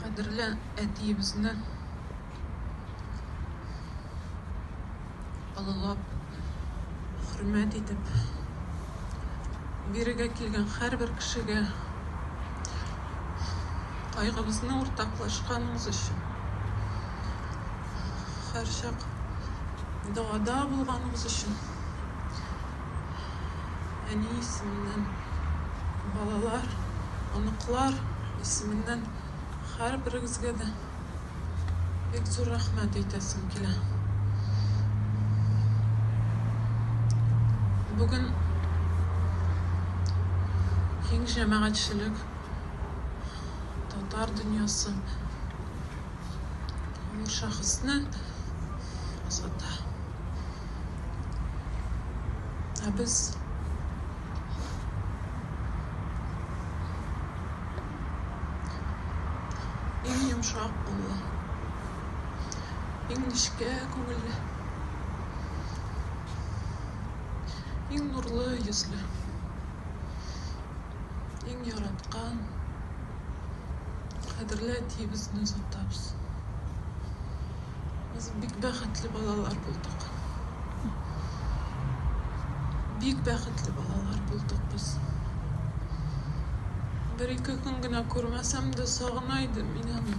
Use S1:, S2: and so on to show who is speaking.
S1: Кадерле әтиебезне олылап, хөрмәт итеп, бирегә килгән һәрбер кешегә кайгыбызны уртаклашканыбыз өчен, һәрчак догада булганыбыз өчен әни исеменнән балалар, оныклар исеменнән һәрберегезгә дә бик зур рәхмәт әйтәсем килә. Бүген киң җәмәгатьчелек, татар дөньясы бу шәхесне озата. Ә без иң йомшак куллы, иң нечкә күңелле, иң нурлы йөзле. Иң яраткан, кадерле әтиебезне озатабыз. Без бик бәхетле балалар булдык. Бик бәхетле балалар булдык без. Бер ике көн генә күрмәсәм дә сагына идем мин аны.